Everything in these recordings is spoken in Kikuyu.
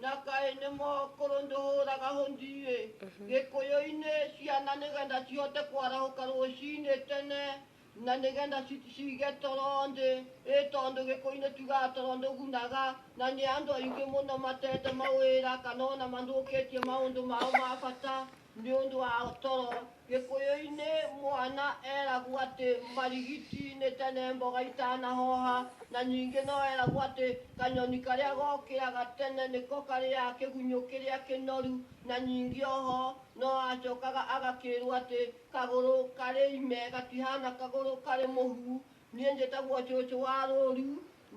Na kaĩ nĩ mo kũrũndũũraga hũndiĩ gĩkũyũ-inĩ ciana nĩgetha cihote kwarahũka rũcinĩ tene na nĩgetha ci- cige toro thĩ ĩ tondũ gĩkũyũ-inĩ tugaga toro ndũgunaga na nĩ andũ aingĩ mũno matete mawĩra kana ona mathũkĩtie maũndũ mao ma bata Nĩ ũndũ wa toro, Gĩkũyũ-inĩ mwana eragwo atĩ marigiti nĩ tene mboga itanahoha, na ningĩ no eragwo atĩ kanyoni karĩa gokĩraga tene nĩko karĩaga kĩgunyũ kĩrĩa kĩnoru, na ningĩ o ho no acokaga agakĩrwo atĩ kagũrũ karĩ ime gatihana kagũrũ karĩ mũhu. Niĩ njĩtagwo cũcũ wa rũũru.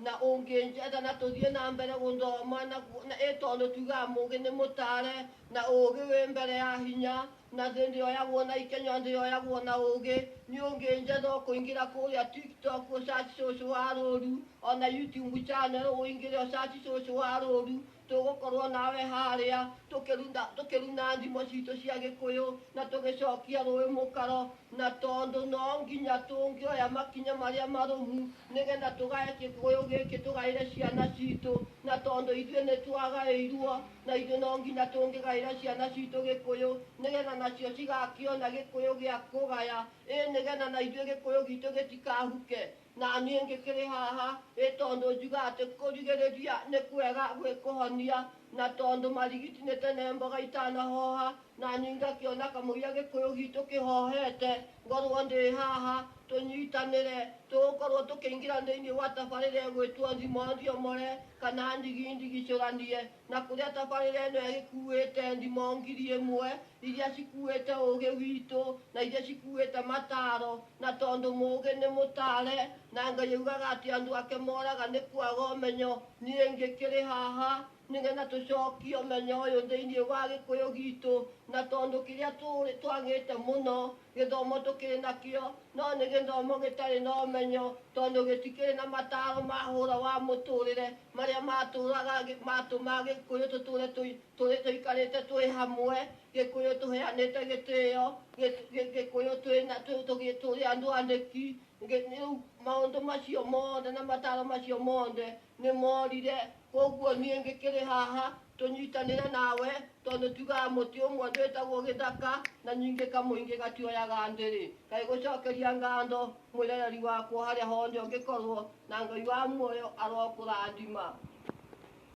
Na ũngĩnjetha na tũthiĩ na mbere gũthoma na, na ĩ tondũ tugaga mũgĩ nĩ mũtare na ũgĩ wĩ mbere ya hinya na thĩ ndĩoyagwo na ikenya thĩ yoyagwo na ũgĩ nĩ ũngĩnjetha ũkũingĩra kũrĩa tiktok ũcaci cũcũ wa rũru ona youtube channel ũingĩre ũcaci cũcũ wa rũru tũgũkorwo nawe harĩa tũkĩruta tũkĩruna thimo citũ cia gĩkũyũ na tũgĩcokia rũĩ mũkaro na tondũ no nginya tũngĩoya makinya marĩa marũmu nĩgetha tũgae gĩkũyũ gĩkĩ tũgaĩre ciana citũ na tondũ ithuĩ nĩ twagaĩirwo na ithuĩ no nginya tũngĩgaĩra ciana citũ gĩkũyũ nĩgetha nacio cigakĩona gĩkũyũ gĩa kũgaya ĩ nĩgetha na ithuĩ gĩkũyũ gitũ gĩtikahuke Na niĩ ngĩkĩrĩ haha, ĩ tondũ njuga atĩ kũrigĩrĩria nĩ kwega gwĩ kũhonia, na tondũ marigiti nĩ tene mboga itanahoha, na niĩ ngakĩona kamũira Gĩkũyũ gitũ kĩhohete, ngorwo ndĩ haha, tũnyitanĩre, tũgũkorwo tũkĩingĩra thĩinĩ wa tabarĩra ĩgwĩtwo Thima Ũthiomore, kana Ndigi Ndigicũranie. na kũrĩa tabarĩra ĩno ĩkuĩte ndimũ ngiri ĩmwe iria cikuĩte ũgĩ witũ na iria cikuĩte mataro na tondũ mũgĩ nĩ mũtare na ngai augaga atĩ andũ ake moraga nĩ kwaga ũmenyo niĩ ngĩkĩrĩ haha nĩgetha tũcokie ũmenyo ũyũ thĩinĩ wa gĩkũyũ gitũ na tondũ kĩrĩa tũrĩ twagĩte mũno gĩthomo tũkĩrĩ nakĩo no nĩ gĩthomo gĩtarĩ na ũmenyo tondũ gĩtikĩrĩ na mataro ma hũra wa mũtũrĩre marĩa matũraga matũma gĩkũyũ tũtũre tũi- tũrĩ tũikarĩte twĩ hamwe gĩkũyũ tũheanĩte gĩtĩo gĩ- gĩ- gĩkũyũ twĩ na- tũ- tũgĩ- tũrĩ andũ andĩki Ngĩ- rĩu maũndũ macio mothe na mataro macio mothe nĩ morire koguo niĩ ngĩkĩrĩ haha Tũnyitanĩre nawe tondũ tugaga mũtĩ ũmwe ndwĩtagwo gĩthaka na nyingĩ kamũingĩ gatioyaga ndĩrĩ. Kaĩ gũcokeria ngatho mwĩrereri wakwa harĩa hothe ũngĩkorwo na Ngai wa muoyo arokũrathima.